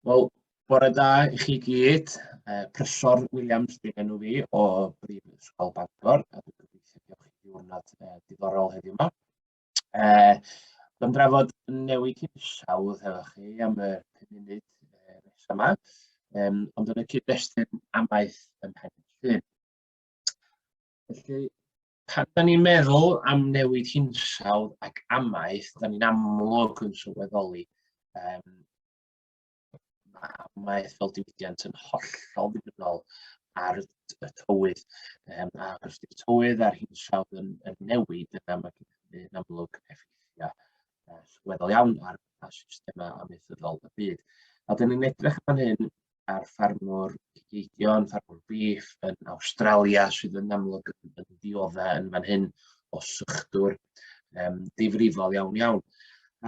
Wel, bore da i chi gyd. Uh, Prysor Williams di enw fi o Brifysgol Bangor, a dwi'n gobeithio bod chi diwrnod uh, diddorol heddiw yma. Uh, Dwi'n drafod newid hinsawdd hefo chi am y 5 munud uh, nesaf yma, um, ond yn y cyd-destun amaeth yn pen llun. Felly, pan da ni'n meddwl am newid hinsawdd ac amaeth, da ni'n amlwg yn sylweddoli um, mae ethol diwydiant yn hollol ddibynnol ar y tywydd. Um, a os ydy'r tywydd a'r hinsawdd yn, yn newid, yna mae hynny yn amlwg effeithiau uh, sylweddol iawn ar, ar systemau amaethyddol y byd. A dyn ni'n edrych fan hyn ar ffarmwr cigeidion, ffarmwr beef yn Awstralia sydd yn amlwg yn, yn ddiodda yn fan hyn o sychdwr um, difrifol iawn iawn.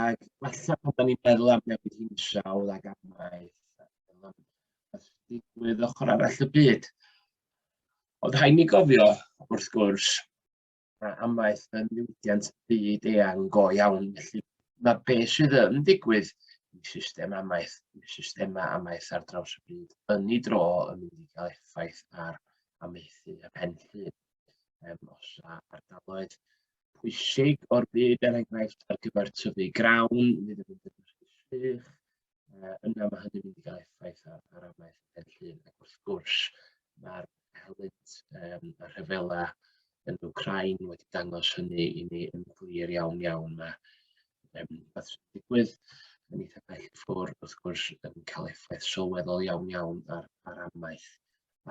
Ac falle pan da ni'n meddwl am newid hinsawdd ac am maeth, digwydd ochr arall y byd. Ond rhaid ni gofio, wrth gwrs, a amaeth yn niwdiant byd eang go iawn. Felly mae beth sydd yn digwydd i system amaeth, i systemau amaeth ar draws y byd, yn ei dro yn mynd i gael effaith ar amaethu y pen llun. um, os a ardaloedd pwysig o'r byd, er enghraifft ar gyfer tyfu grawn, fydd yn mynd yn sych, uh, yna mae hynny'n mynd i gael effaith ar, ar amaeth yn llun, ac wrth gwrs mae'r helynt um, y rhyfela yn Ukraine wedi dangos hynny i ni yn glir iawn iawn. Mae um, beth sy'n digwydd yn eitha bell ffwr, wrth gwrs, yn cael effaith sylweddol iawn iawn ar, ar amaeth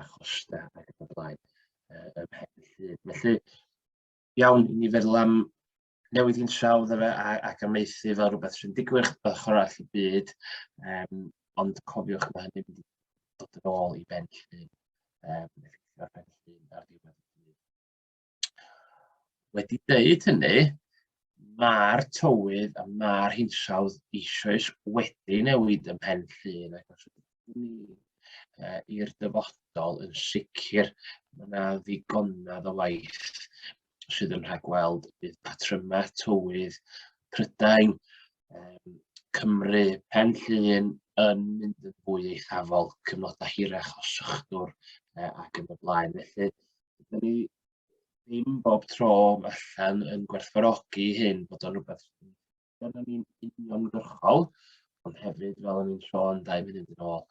a chostau ac yn y blaen uh, ym mhen y llun. Felly, iawn, ni feddwl am newid i'n trawd efe ac amaethu fel rhywbeth sy'n digwydd fel chwarae all y byd, um, ond cofiwch mae hynny'n mynd i dod yn ôl i ben llun, um, ar ben llun ar ddiwedd y byd. Wedi dweud hynny, mae'r tywydd a mae'r hinsawdd eisoes wedi newid ym Mhen Llŷn ac os ydym ni uh, i'r dyfodol yn sicr mae yna ddigonedd o waith sydd yn rhagweld bydd patrymau tywydd Prydain, um, Cymru, Pen Llŷn yn mynd yn fwy eithafol, cyfnodau hirach o sychdwr uh, ac yn y blaen. Felly, Dydyn ni ddim bob tro allan yn gwerthfawrogi hyn bod o'n rhywbeth dyna ni'n uniongyrchol, ond hefyd fel o'n i'n sôn dau funud yn ôl,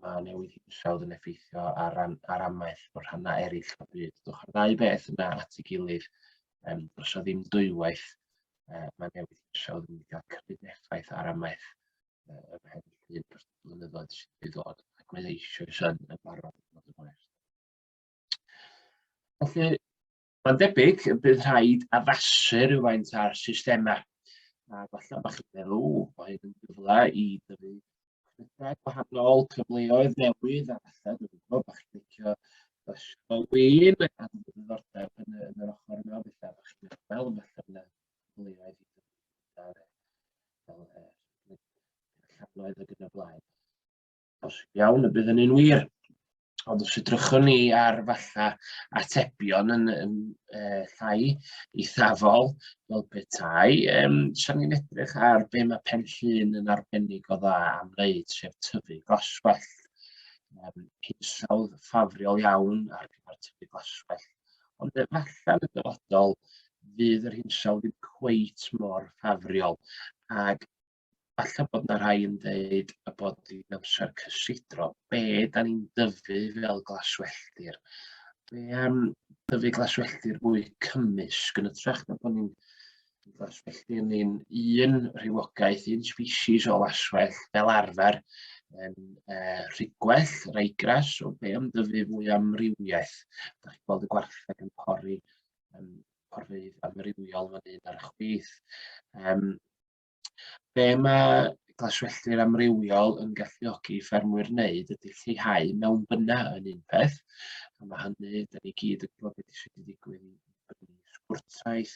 mae newid hinsawdd yn effeithio ar, ran, ar amaeth o'r rhannau eraill o'r byd. Dwch ar ddau beth yna at ei gilydd, um, dros o ddim dwywaith, uh, mae newid hinsawdd yn cael cymryd effaith ar amaeth uh, ym mhen llun dros y blynyddoedd sydd wedi dod, ac mae eisiau yn barod yn bod yn hwyr. Felly, mae'n debyg y bydd rhaid addasu rhywfaint ar systemau. A falle bod chi'n meddwl, o, mae hyn yn gyfle i dyfu credau gwahanol, cyfleoedd newydd, a falle, dwi'n gwybod, bod chi'n licio ysgol win, a dwi'n ddiddordeb yn, yn yr ochr yma, falle bod chi'n meddwl, falle bod yna cyfleoedd i dyfu fel llanoedd ac yn y blaen. Os iawn, y bydd hynny'n wir. Ond os edrychwn ni ar falla atebion yn, yn e, llai eithafol fel petai, um, sian ni'n edrych ar be mae pen llun yn arbennig o dda am wneud, sef tyfu glaswell. Um, hinsawdd ffafriol iawn ar gyfer tyfu glaswell. Ond efallai yn y dyfodol fydd yr hinsawdd ddim cweit mor ffafriol ac falle bod yna rhai yn dweud y bod hi'n amser cysidro. Be da ni'n dyfu fel glaswelltir? Be am dyfu glaswelltir fwy cymysg yn ytrach na bod ni'n glaswelltir ni'n un rhywogaeth, un species o laswell fel arfer yn uh, rhigwell, raigras, o be am dyfu fwy amrywiaeth. Da chi'n gweld y gwartheg yn pori um, porfeydd amrywiol fan hyn ar y chwith. Um, Be mae glaswelltir amrywiol yn galluogi ffermwyr wneud ydy lleihau mewn byna yn un peth, a mae hynny, da ni gyd yn gwybod beth sydd wedi digwydd i gwrtaith,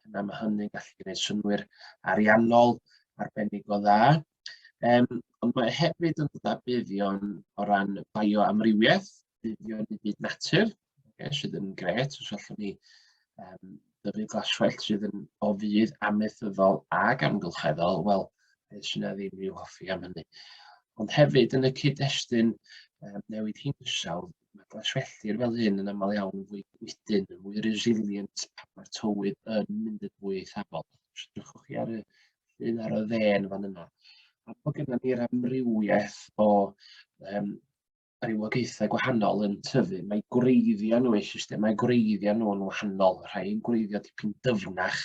yna mae hynny'n gallu gwneud synwyr ariannol arbennig o dda. Um, ond mae hefyd yn dod â buddion o ran bioamrywiaeth, buddion i byd natur, okay, sydd yn gret, os allwn ni um, dyfu glaswellt sydd yn o fydd amaethyddol ac amgylcheddol, wel, beth sy'n ddim i'w hoffi am hynny. Ond hefyd yn y cyd-destun um, newid hinsawdd, mae glaswelltir fel hyn yn aml iawn yn fwy gwydyn, yn fwy resilient pan mae'r tywydd yn mynd yn fwy eithafol. Sdrychwch chi ar y llun ar y ddên fan yna. A bod gennym ni'r amrywiaeth o um, rhywogaethau gwahanol yn tyfu, mae gwreiddiau nhw, eu systemau gwreiddiau nhw yn wahanol, rhai yn gwreiddio dipyn dyfnach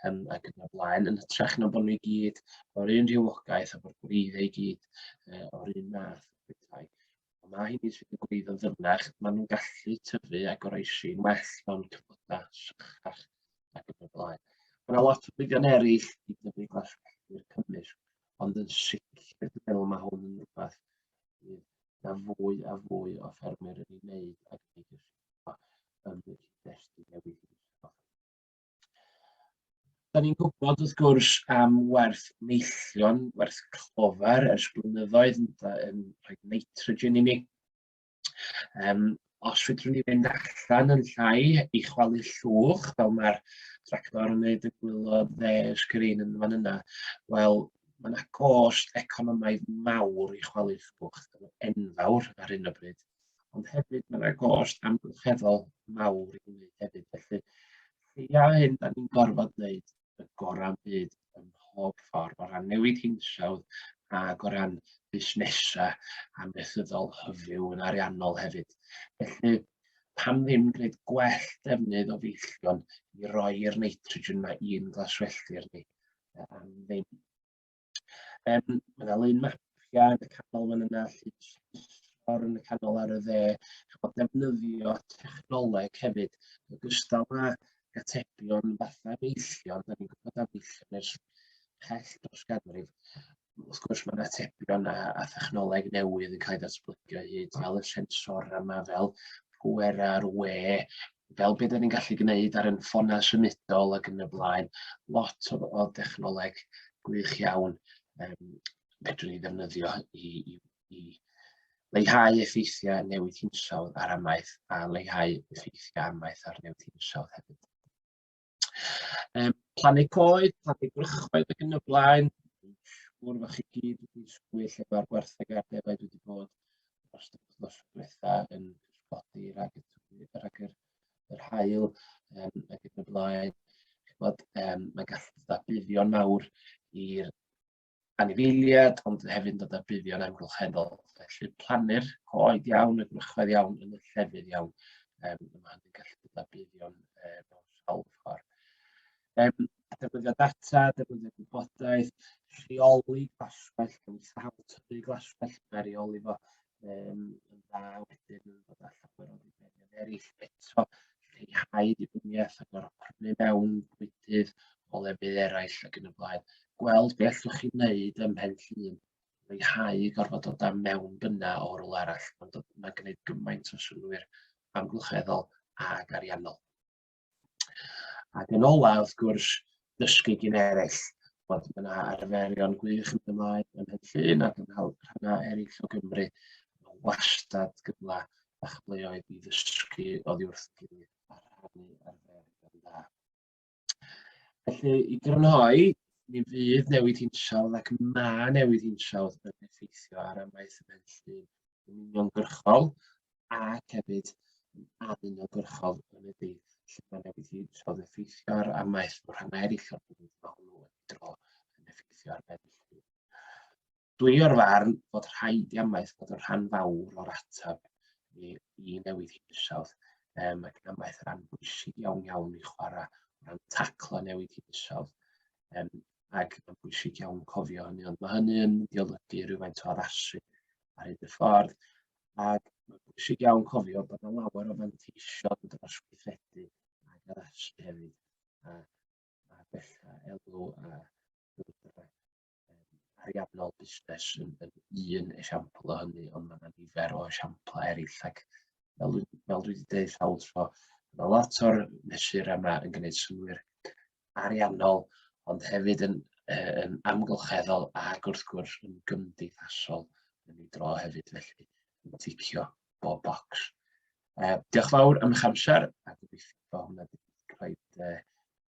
um, ac yn y blaen, yn hytrach na bod nhw i gyd o'r un rhywogaeth a bod gwreiddiau i gyd uh, o'r un math. Bethau. Mae hyn i sydd yn gwreiddio ddyfnach, maen nhw'n gallu tyfu a goroesi'n well mewn cyfnodau sychach ac yn y blaen. Mae lot o fyddion eraill i dyfu glaswelltir cymysg, ond yn sicr dwi'n meddwl mae hwn yn rhywbeth fydd na fwy a fwy o ffermwyr yn ei wneud ac yn ei gyrsiwio yn y cyd-destun newydd hinsawdd. Da ni'n gwybod wrth gwrs am werth neillion, werth clofer ers blynyddoedd yn, yn rhoi nitrogen i ni. Um, Os fedrwn ni fynd allan yn llai i chwalu llwch, fel mae'r tractor yn neud y gwylod dde y sgrin yn fan yna, wel, mae yna gost economaidd mawr i chwalu llwch, enfawr ar hyn o bryd, ond hefyd mae yna gost amgylcheddol mawr i wneud hefyd, felly lleia hyn da ni'n gorfod wneud y gorau byd ym mhob ffordd, o ran newid hinsawdd ac o ran busnesau amaethyddol hyfyw yn ariannol hefyd. Felly, pam ddim gwneud gwell defnydd o feillion i roi'r nitrogen yma i'n glaswelltir ni am ddim. Um, mae yna lun mapia yn y canol fan yna, llun yn y canol ar y dde, chymod defnyddio technoleg hefyd, yn gystal â gatebion fatha meillion, da ni'n gwybod am meillion ers pell dros ganrif, wrth gwrs mae yna tebion a, a thechnoleg newydd yn cael ei ddatblygu o hyd, fel y sensor yma, fel pwer ar we, fel be' 'dan ni'n gallu gneud ar 'yn ffonau symudol ac yn y blaen, lot o o dechnoleg gwych iawn yym fedrwn ni ddefnyddio i i i leihau effeithiau newid hinsawdd ar amaeth a leihau effeithiau amaeth ar newid hinsawdd hefyd. Yym plannu coed, plannu gwrychoedd ac yn y blaen. Siŵr fod chi gyd wedi sgwyll efo'r gwertheg ar defaid wedi bod dros y wythnos diwetha yn cysgodi rhag y tywydd, rhag yr, yr hael um, ac yn y blaen. Bod, um, mae gallu bod buddion mawr i'r anifeiliad, ond hefyd yn dod â buddion amgylcheddol. Felly plannu'r coed iawn, y gwrychoedd iawn, yn y llefydd iawn. Um, mae hynny'n gallu dod â buddion e, mewn sawl ffordd. Um, defnyddio data, defnyddio gwybodaeth, rheoli glaswell, cymwythau tyfu glaswell, mae reoli fo um, yn dda wedyn yn bod allan o'r annibynion eraill eto lleihau dibyniaeth ac o'r prynu mewn bwydydd o lefydd eraill ac yn y blaen. Gweld beth allwch chi wneud ym mhen llun leihau gorfod dod â mewn byna o rôl arall, mae'n gwneud gymaint o swnwyr amgylcheddol ac ariannol. Ac yn ola, wrth gwrs, dysgu gyn eraill, bod yna arferion gwych yn ymlaen yn Henllyn ac yn rhannau eraill o Gymru. Mae wastad gyfle a chyfleoedd i ddysgu oddi wrth y gilydd a rhannu arferion dda. Felly, i grynhoi, mi fydd newid hinsawdd ac mae newid hinsawdd yn effeithio ar amaeth y Henllyn yn uniongyrchol ac hefyd yn o gyrchol yn y byd lle mae'n newid i rhodd effeithiwr a maes bod rhan eraill o'r byd mae hwnnw wedi dro yn effeithio ar benllyn. Dwi o'r farn fod rhaid i amaeth bod yn rhan fawr o'r ateb i, i newid hinsawdd um, ac yn amaeth rhan bwysig iawn iawn i chwarae o ran taclo newid hinsawdd um, ac mae'n bwysig iawn cofio hynny ond mae hynny yn mynd i olygu rhywfaint o addasu ar hyd y ffordd Ac mae'n bwysig iawn cofio bod yna lawer o fanteision dros weithredu ag addasu hefyd, a, a bella elw a bwydrau ariannol busnes yn, yn un esiampl o hynny, ond mae yna nifer o esiamplau eraill ac fel, fel dwi wedi dweud sawl tro, Mae lot o'r mesur yma yn gwneud synwyr ariannol, ond hefyd yn, yn amgylcheddol ac wrth gwrs yn gymdeithasol yn ei dro hefyd, felly yn ticio bob bocs. Uh, diolch fawr am eich amser a gobeithio bod hwnna wedi cael uh,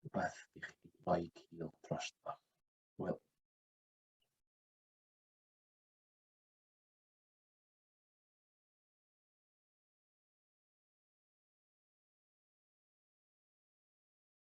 rhywbeth i chi roi cil dros dro. Wel.